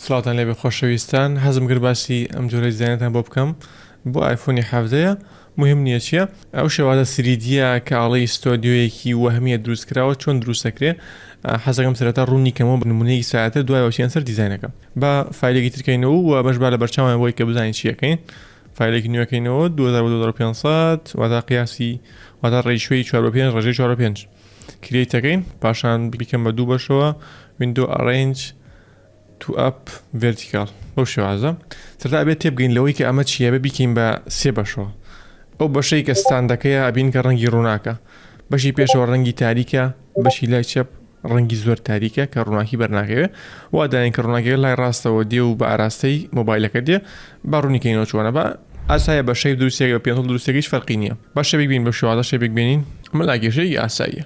سڵاوتان لێبێ خۆشەویستان حەزم کرد باسی ئەم جۆرە دیزاینەتان بۆ بکەم بۆ ئایفۆنی حەڤدەیە مهم نیە چیە ئەو شێوازە سریدیە کە ئەڵێی ستۆدیۆیەکی وەهمیە دروست کراوە چۆن دروست ئەکرێ حەزەکەم سەرەتا ڕوونی کەمەوە بە نمونەیەکی سادەتر دوایەوە چیان سەر دیزاینەکە با فایلێکی ترکەینەوە و بەش با لە بەرچاوان بۆی کە بزانین چیەکەین فایلێکی نوێکەینەوە 2500 واتا قیاسی واتا ڕێشوی 4 5 ڕژەی 4 5 کریتەکەین پاشان بریکەم بە دوو بەشەوە وینندۆ ئەڕێنج تو ئەپ ڤێرتیکاڵ بەو شێوازە. سەرەتا ئەبێت تێبگەین لەوەی کە ئەمە چییە بێ بیکەین بە سێ بەشەوە. ئەو بەشەی کە ستاندەکەیە ئەبین کە ڕەنگی ڕووناکە. بەشی پێشەوە ڕەنگی تاریکە، بەشی لای چەپ ڕەنگی زۆر تاریکە کە ڕووناکی بەرناکەوێ. وا داین کە ڕووناکیەکە لای ڕاستەوە دێ و بە ئاراستەی مۆبایلەکە دێ. با ڕوونی کەینەوە چۆنە با. ئاسایە بە شەیپ دروستیەکە بە پێنسڵ دروستیەکەیش فەرقی نییە. با شەبێک بین بەو شێوازە شەبێک بێنین. ئەمە لاکێشەیەکی ئاساییە.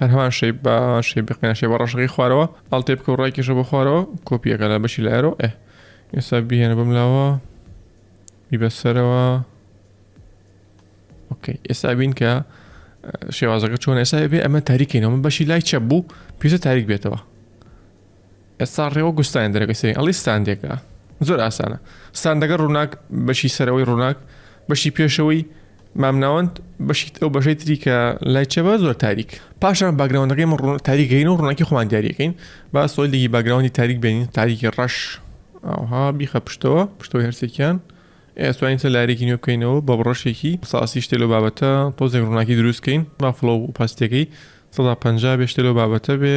هەر هەمان شەیب بە شەی بقیان شێ بە ڕەشەکەی خوارەوە ئەڵتێ بکە و ڕایکیشە بە خوارەوە کۆپیەکە لە بەشی لایەرەوە ئێ ئێستا بهێنە بم لاوە بیبەسەرەوە ئۆکەی ئێستا بین کە شێوازەکە چۆن ئێستا بێ ئەمە تاریکینەوە بەشی لای چە بوو پێزە تاریک بێتەوە ئێستا ڕێوە گوستان دەرەکە سێ ئەڵی ستاندێکە زۆر ئاسانە ستاندەکە ڕووناک بەشی سەرەوەی ڕووناک بەشی پێشەوەی مامناوەند بەشیت ئەو بەشەی تری کە لای چەبە زۆر تاریک پاشان باگراونەکەی من ڕوون تاریکەین و ڕووناکی خۆمان دیارەکەین با سۆیلێکی باگراوندی تاریک بێنین تاریکی ڕەش ئاها بیخە پشتەوە پشتەوە هەرسێکیان ئێستوانین سە لارێکی نوێ بکەینەوە بە بڕەشێکی ساسی شتێ لە بابەتە تۆزێک ڕووناکی دروستکەین بافڵە و پاستەکەی 150 بێشتە لەو بابەتە بێ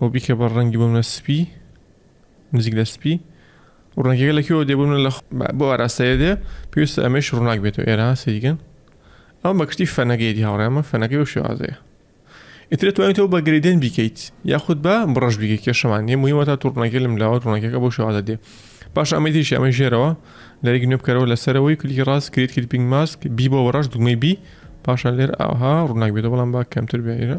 و بیکە بە ڕەنگی بمنە سپی نزیک لە سپی و ڕەنگەکە لە کوێوە دێ بمنە لە بۆ ئاراستەیە دێ پێویستە ئەمەش ڕووناک بێتەوە ئێرە سەیگەن ئەم بەکشتی فەنەگەیتی هاوڕێمە فەنەکەی و شێوازەیە ئیتر توانیتەوە بە گریدن بیکەیت یاخود بە بڕژ بیگە کێشەمان نیە مهمە تا توڕنەکە لەم لاوە ڕۆنەکەەکە بۆ شێوازە دێ باش ئەمەی دیش ئەمە ژێرەوە لەریک نوێ بکەرەوە لەسەرەوەی کلیکی ڕاست کرێت کلیپینگ ماسک بی بۆ بەڕژ دوگمەی بی پاشان لێر ئاها ڕووناک بێتە بەڵام با کەمتر بێرە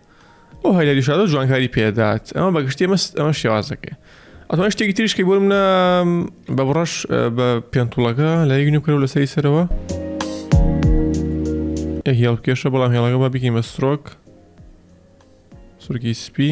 ئەو هەیلە ریشادۆ جوانکاری پێدات ئەمە بەگشتی مەست ئەمە شێوازەکەی ئەتوان شتێکی تریشکی بۆ منە بە بڕەش بە پێنتوڵەکە لە یەک نوکرە و لەسەری سەرەوە هێڵ کێشە بەڵام هێڵەکە بە بکەین بە سرۆک سرکی سپی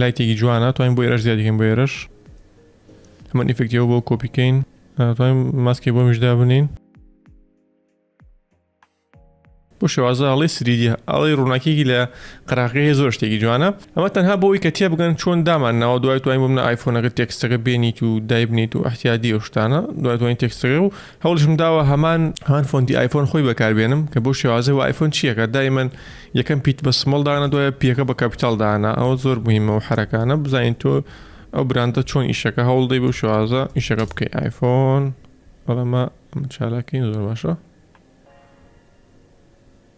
لایتێکی جوانە توانین بۆ ئێرەش زیادیکەین بۆ ئێرەش هەمە ئیفکتەوە بۆ کۆپیکەین توانین ماسکی بۆ میشدا بنین بۆ شێوازە ئەڵی سریدی ئەڵی ڕووناکیێکی لە قراقی زۆر شتێکی جوانە ئەمە تەنها بۆی کە تێ بگەن چۆن دامان ناوە دوای توانین بم نە ئایفۆنەکە تێکستەکە بێنیت و دایبنیت و احتیادی ئەو شتانە دوای توانین تێکستەکە و هەوڵیشم داوە هەمان هەمان فۆنتی ئایفۆن خۆی بەکاربێنم کە بۆ شێوازەوە ئایفۆن چیەکە دایمەن یەکەم پیت بە سمەڵ دانا دوایە پیەکە بە کاپیتال دانا ئەوە زۆر مهمە و حرەکانە بزانین تۆ ئەو براندە چۆن ئیشەکە هەوڵدەی بۆ شێوازە ئیشەکە بکەی ئایفۆن بەڵەمە چالاکین زۆر باشە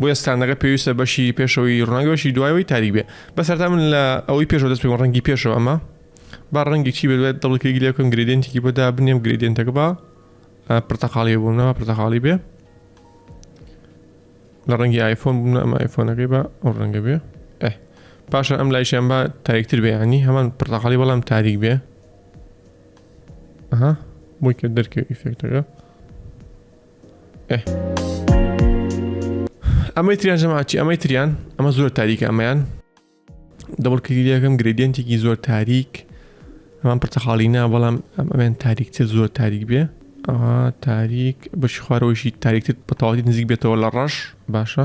بۆیە ستاندەکە پێویستە بەشی پێشەوەی ڕووناکی بەشی دوایەوەی تاریک بێ بە سەرتا من لە ئەوەی پێشەوە دەست پێوە ڕەنگی پێشەوە ئەمە با ڕەنگی چی بێت دڵی کلیک لێ بکەم گرێدێنتێکی بۆ دابنێم گرێدێنتەکە با پرتەقاڵی بووم نەوە پرتەقاڵی بێ لە ڕەنگی ئایفۆن بووم ئەم ئایفۆنەکەی بە ئەو ڕەنگە بێ پاشە ئەم لایشیان بە تاریکتر بێ ینی هەمان پرتەقاڵی بەڵام تاریک بێ ها بۆی کە دەرکە ئیفێکتەکە ئەمەی تریان ژەماچی ئەمەی تریان ئەمە زۆر تاریکە ئەمەیان دەبڵ کلیلەکەم گرێدیەنتێکی زۆر تاریک ئەمان پرتەخاڵی نا بەڵام ئەمەیان تاریکتر زۆر تاریک بێ ئەها تاریک بەشی خوارەوەشی تاریکتر بەتەواتی نزیک بێتەوە لە ڕەش باشە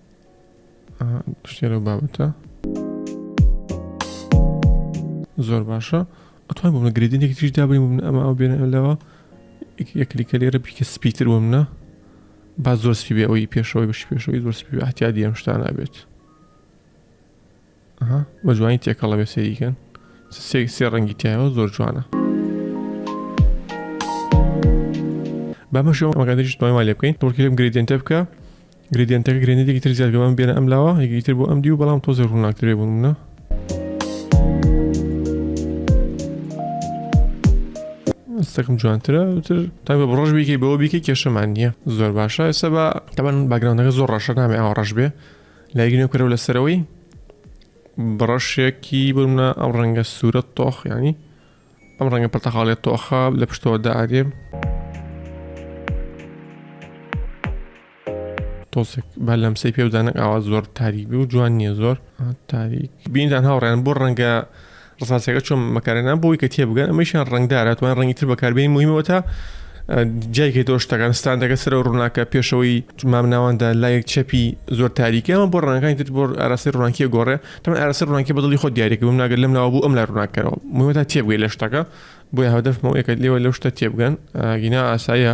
شتێ لەو بابەتە زۆر باشە ئەتوان بۆمە گرێدنێک تریش دابین بوون ئەمە ئەو بێنە لەوە یەکلیکە لێرە بیکە سپیتر بۆ منە با زۆر سپی بێ ئەوی پێشەوەی بەشی پێشەوەی زۆر سپی ئاحتیادی ئەم شتانە بێت ئەها بە جوانی تێکەڵە بێ سەیریکەن سێ سێ ڕەنگی تایەوە زۆر جوانە بەمەشەوە ئەگەدەشت پای وا لێ بکەین تۆڵکی لەم گریدێنتە بکە گریدێنتەکە گرێنێکی تر زیاد گەمان بێنە ئەم لاوە یەکی تر بۆ ئەم دی و بەڵام تۆزە ڕووناکترێ بوون منە ئەستەکەم جوانترە تر تا بە ڕۆژ بیکەی بەوە بیکە کێشەمان نییە زۆر باشە ئێستا بە تەبەن باگراندەکە زۆر ڕەشە نامێ ئاوە ڕەش بێ لایک نوێ کەرەوە لەسەرەوەی بڕەشێکی بمە ئەم ڕەنگە سوورە تۆخ ینی ئەم ڕەنگە پرتەقاڵێت تۆخە لە پشتەوە دادێ تۆسێک بە لەم سی پێ بدانە ئاوا زۆر تاریک بوو جوان نییە زۆر تاریک بینیان هاوڕێن بۆ ڕەنگە ڕسانسەکە چۆن مەکارێنان بۆی کە تێ بگەن ئەمەشیان ڕنگدارە توان ڕنگی تر بەکاربیین مهمەوە تا جایکە تۆ شتەکان ستاندەکە سەر و ڕووناکە پێشەوەی مام ناواندا لایەک چەپی زۆر تاریکە ئەمە بۆ ڕنگەکانی تر بۆ ئاراسی ڕووناکیە گۆڕێ تەمە ئاراسی ڕووناکی بەدڵی خۆ دیارێک بم ناگەر لەم ناوە بوو ئەم لا ڕووناکەرەوە مهمەتا تێبگەی لە شتەکە بۆی هەدەفمەوە یەکە لێوە لەو شتە تێبگەن گینا ئاسایە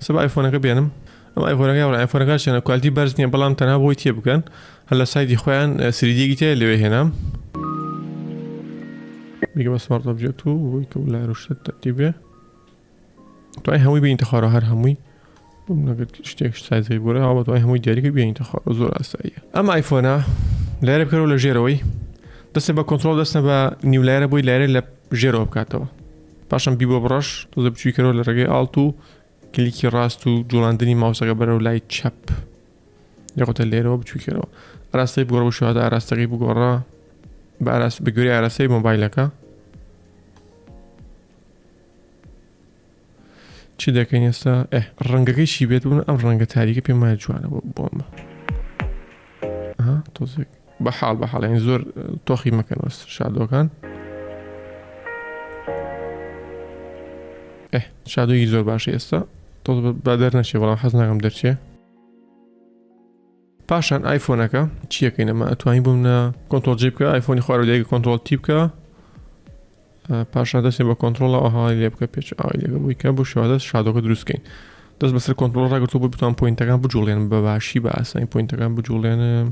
سبا ئایفۆنەکە بێنم ئەم ئایفۆنەکە یاوە ئایفۆنەکە شێنە کوالتی بەرز نییە بەڵام تەنها بۆی تێ بکەن هەر لە سایدی خۆیان سریدیەکی تێ لەوێ هێنام دیگە بە سمارت ئۆبجێکت و بۆی کە لای ڕشتە تەرتی بێ توای هەمووی بینتە خوارە هەر هەمووی نەگەر شتێک سایزەکە گۆرە هاوە توای هەمووی دیاریکە بینتە خوارە زۆر ئاساییە ئەم ئایفۆنا لارە بکەرەوە لە ژێرەوەی دەستێ بە کۆنتترۆل دەستە بە نیولایرە بۆی لارە لە ژێرەوە بکاتەوە پاشان بی بۆ بڕەش تۆزە بچویکەرەوە لە ڕێگەی ئاڵت و کلیکی ڕاست و جوڵاندنی ماوسەکە بەرەو لای چەپ یاخۆتە لێرەوە بچویکەرەوە ئاراستەی بگۆڕ بە شوهدا ئاراستەکەی بگۆڕە بە ئاراست بە گوێری ئاراستەی مۆبایلەکە چی دەکەین ئێستا ڕەنگەکەی چی بێت بوون ئەم ڕەنگە تاریکە پێم وایە جوانە بۆ بۆمە تۆزێک بە حاڵ بە حاڵ یعنی زۆر تۆخی مەکەن وەس شادۆکان ئه شادۆیی زۆر باشە ئێستا تۆ بە دەر نەچێ بەڵام حەز ناکەم دەرچێ پاشان ئایفۆنەکە چیەکەینەمە ئەتوانی بووم نە کۆنتۆل جی بکە ئایفۆنی خوارەوەدەیەکە کۆنتۆل تی بکە پاشان دەستێ بە کۆنتترۆڵە ئەو هەواڵی لێ بکە پێچ ئاوای لەگە بووی کە بۆ شێوازە شادۆکە دروستکەین دەست بەسەر کۆنتترۆل ڕاگرتو بۆ بتوان پوینتەکان بجوڵێن بە باشی بە ئاسانی پوینتەکان بجوڵێنم.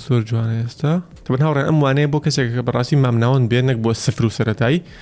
زۆر جوانە ئێستا تەبەن هاوڕێ ئەم وانەیە بۆ کەسێکەکە بەڕاستی مامناوەند بێ نەک بۆ سفر و سەتایی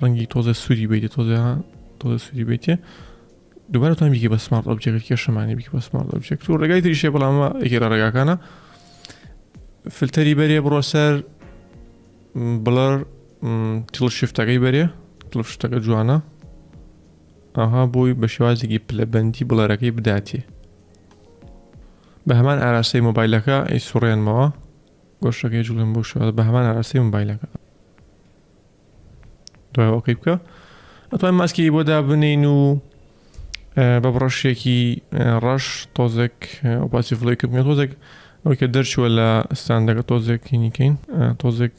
ڕەنگی تۆزە سووری بیتێ تۆزە تۆزە سووری بیتێ دوبارەتان بیکە بە سمارت ئۆبجێکت کێشەمانی بیکە بە سمارت ئۆبجێکت و ڕێگای تریشێ بەڵامە ئەگەرە ڕێگاکانە فلتەری بەرێ بڕۆ سەر بڵەر تڵ شفتەکەی بەرێ تڵ شتەکە جوانە ئاها بۆی بە شێوازێکی پلەبندی بڵەرەکەی بداتێ بە هەمان ئاراستەی مۆبایلەکە ئەی سوڕێنمەوە گۆشتەکەی جوڵێن بۆ شوێ بە هەمان ئاراستەی مۆبایلەکە دوای ئۆکەی بکە ئەتوان ماسکی بۆ دابنین و بە بڕەشێکی ڕەش تۆزێک باسی فلەیکم بێ تۆزێک ئەوەی کە دەرچووە لە ستاندەکە تۆزێکینیکەین تۆزێک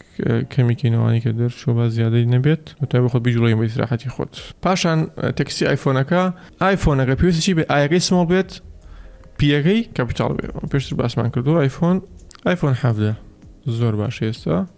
کەمیکەینەوانی کە دەرچوو بە زیادەی نەبێت وتای بخۆ بیجوڵی بە ئیسراحەتی خۆت پاشان تەکسی ئایفۆنەکە ئایفۆنەکە پێویستی بێ ئاەکەی سمۆڵ بێت پیەکەی کەپیتال بێ پێشتر باسمان کردو ئایفۆن ئایفۆن حەفدە زۆر باش ئێستا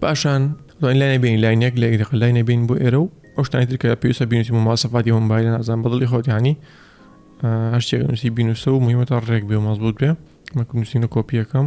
پاشان دوای لای نبین لای نەک لە ئیرق لای نبین بۆ ئێرە و ئەو شتانی ترکە پێویستە بینوسی و ماسەفاتی هەم بای نازان بەدڵی خۆتیانی هەشتێک نووسی بینوسە و مهمە تا ڕێک بێ مەزبوت بێ مەکو نووسینە کۆپیەکەم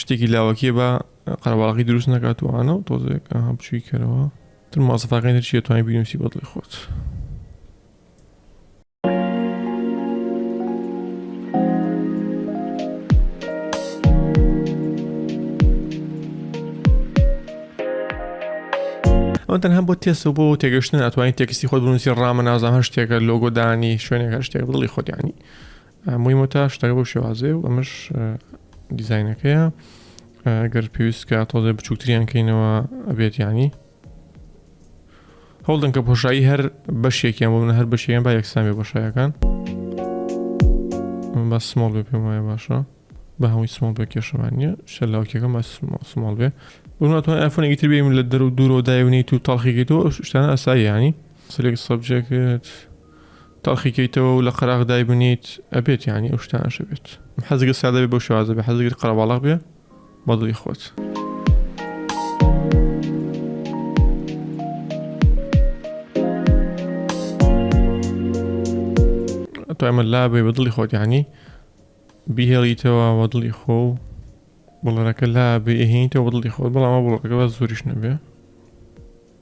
شتێکی لاوەکیە با قەرەباڵغی دروست نکات و ئاە و تۆزێک ئاها بچووی کەرەوە تر ماسەفاکانی تر چیە توانای بینوسی بەدڵی خۆت. ئەو تەنها بۆ تێسە بۆ تێگەشتن ئەتوانانی تێکسی خۆ بنووسی ڕامە نازان هەر شتێکە لۆگۆدانی شوێنێک هەر شتێک دڵی خۆدیانی موی مۆتا شتەکە بەو شێوازەیە و ئەمەش دیزینەکەیە گەر پێویستکە تۆزێ بچووکتریان کەینەوە ئەبێت ینی هەوڵدن کە پۆشایی هەر بەشێکیان بۆ من هەر بەشیان با یەکسان بێ بەشایەکان من بە سمۆڵ بێ پێم وایە باشە بە هەمووی سمۆڵ بێ کێشەمان نیە شەلاوکێکەکە مە سمۆڵ بێ بناتوان ئەفۆنێکی تر بێم لە دەر و دوورۆ دایونیت و تاڵخیگەیتەوە شتانە ئەسایانی سلێک سەبجێکت تەڵخی کەیتەوە و لە قەراغ دایبنیت ئەبێت یانی ئەو شتە ئەشە بێت حەزگە سادە بێ بۆ شوازە بێ حەزگر قەرەباڵغ بێ بەدڵی خۆت. تۆمە لابێ بە دڵی خۆت یعنی بیهێڵیتەوە بە دڵی خۆ و بڵەرەکە لا بێهینیتەوە بە دڵی خۆت بەڵامە بڵەکە بە زۆریش نەبێ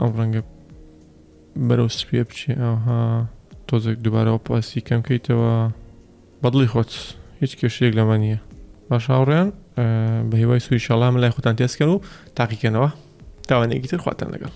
ئەم ڕەنگە بەرەو سپێ بچێ ئاها تۆزێک دووبارەوە پاسی کەم کەیتەوە بەدڵی خۆت هیچ کێشێک لەمە نییە باش هاوڕێن بە هیوای سوی شەڵام لای خۆتان تێسکەن و تاقیکەنەوە تاوانێکی تر خواتان لەگەڵ